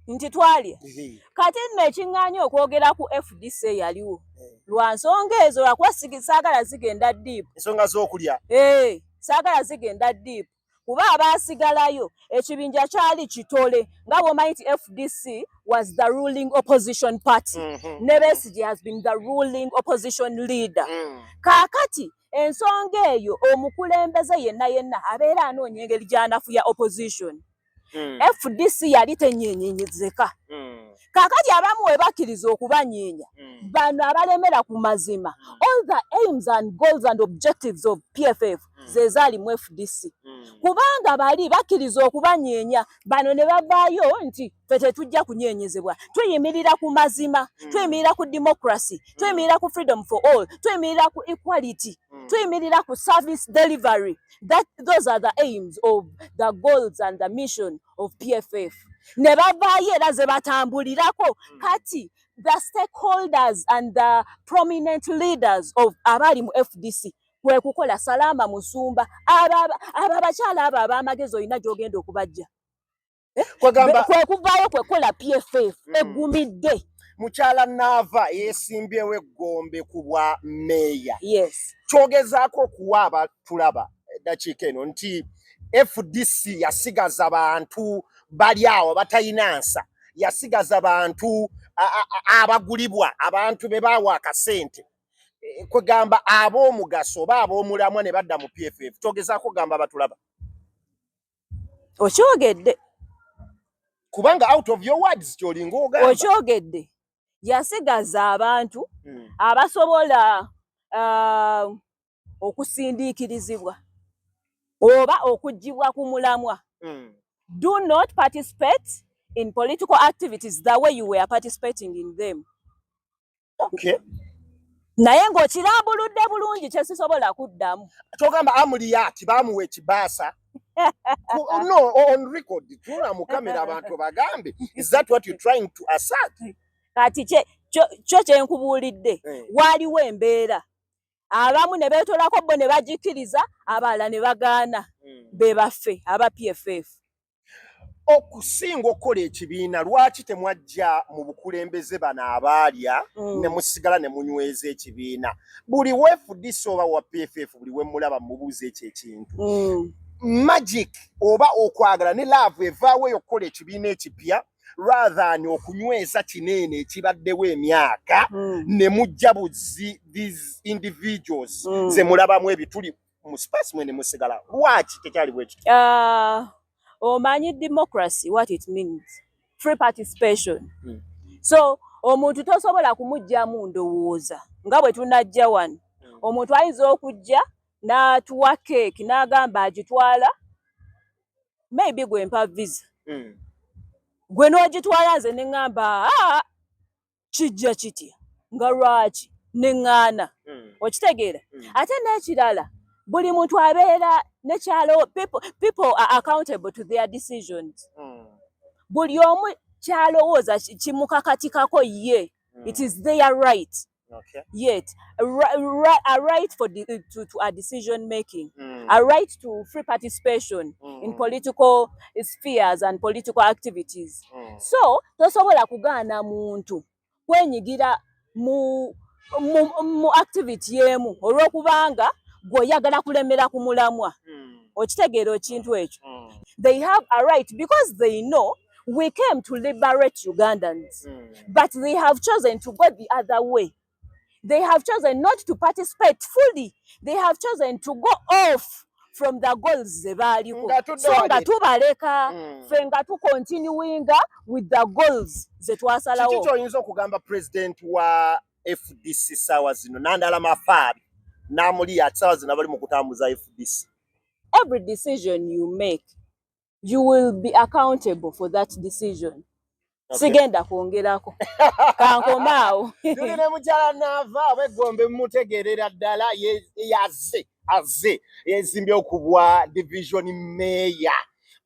nti twalya kati nno ekiŋŋaanya okwogera ku fdc eyaliwo eh. lwa nsonga ezo lwakuba saagala zigenda diipu ensonga z'okulya ee eh, saagala zigenda diipu kuba abaasigalayo ekibinja kyali kitole nga bwomanyi nti fdc was the ruling opposition party mm -hmm. ne besigi has been the ruling opposition leader mm. kaakati ensonga eyo omukulembeze yenna yenna abeera anoonya engeri gyanafuya opposition mm. fdc yali tenyenyenyezeka mm. kakati abamu webakkiriza okubanyeenya mm. bano abalemera ku mazima mm. all the aims and goals and objectives of pff mm. zezaali mu fdc mm. kubanga bali bakkiriza okubanyeenya bano ne bavaayo nti fe tetujja kunyenyezebwa tuyimirira ku mazima mm. tuyimirira ku democracy mm. tuyimirira ku freedom for all tuyimirira ku equality mm. tuyimirira ku service delivery that those are the aims of the goals and the mission of pff ne bavaayo era ze batambulirako mm. kati the stakeholders and the prominent leaders of abaali mu fdc kwe kukola salaama musumba abo abakyala abo ab'amagezi olina gy'ogenda okubajja eh? kwegamba kwekuvaayo kwekola pff mm. egumidde mukyala naava yesimbyewo eggombe ku bwa meeya yes. kyogezaako okuwa abatulaba eddakiika eno nti fdc yasigaza bantu bali awo batalina nsa yasigaza bantu abagulibwa abantu be baawa akasente eh, kwegamba ab'omugaso oba ab'omulamwa ne badda mu pff kyogezaako gamba abatulaba okyogedde kubanga out of your words kyolinga ogamba okyogedde yasigaza abantu hmm. abasobola uh, okusindiikirizibwa oba okugibwa ku mulamwa hmm. do not participate in political activities the way you were participating in them okay. naye ng'okirambuludde bulungi kyesisobola kuddamu kyogamba amuliyati bamuwa ekibaasa no on record tula mu kamera abantu bagambe is that what you trying to assert kati kyo kyenkubuulidde eh. waaliwo embeera abamu ne beetolako bo ne bagikkiriza abalala ne bagaana hmm. be baffe aba pff okusinga okukola ekibiina lwaki temwajja mu bukulembeze bano abaalya mm. ne musigala ne munyweza ekibiina buli wefudisa oba wa pff buli wemulaba mubuuza ekyo ekintu mm. magic oba okwagala ne laavu evaawo eyo okukola ekibiina ekipya rathan okunyweza kineene ekibaddewo emyaka mm. ne mujja buzi these individuals mm. ze mulabamu ebituli mu space mwene musigala lwaki tekyali bwe kityo uh, omanyi democracy what it means free participation hmm. so omuntu tosobola kumugyamu ndowooza nga bwe tunajja wano hmm. omuntu ayinza okujja n'atuwa keeki n'agamba agitwala maybe gwe mpa visa hmm. gwe n'ogitwala nze ne ŋŋamba ah, kijja kitya nga lwaki neŋŋaana hmm. okitegeera hmm. ate n'ekirala buli muntu abeera nekyalo people are accountable to their decisions hmm. buli omu kyalowooza kimukakatikako ye it is their right Okay. Yet, a, right, a right for the, to, to a decision making, mm. a right to free participation mm. in political spheres and political activities. mm. so tosobola kugaana muntu kwenyigira mu, mu, mu activity emu olwokubanga gwe oyagala kulemera ku mulamwa mm. okitegeera ekintu ekyo mm. they have a right because they know we came to liberate ugandans mm. but they have chosen to go the other way they have chosen not to participate fully they have chosen to go off from the goals ze baaliko so nga tubaleka mm. fe nga tu continuinga with the goals ze twasalawo kiki kyoyinza okugamba president wa fdc saawa zino nandala mafaabi namuli ati saawa zino abali mu kutambuza fdc every decision you make you will be accountable for that decision okay. sigenda kwongerako kankomaawo tuli ne mukyala naava oba eggombe mumutegeerera ddala yaze aze yezimbye okubwa division meya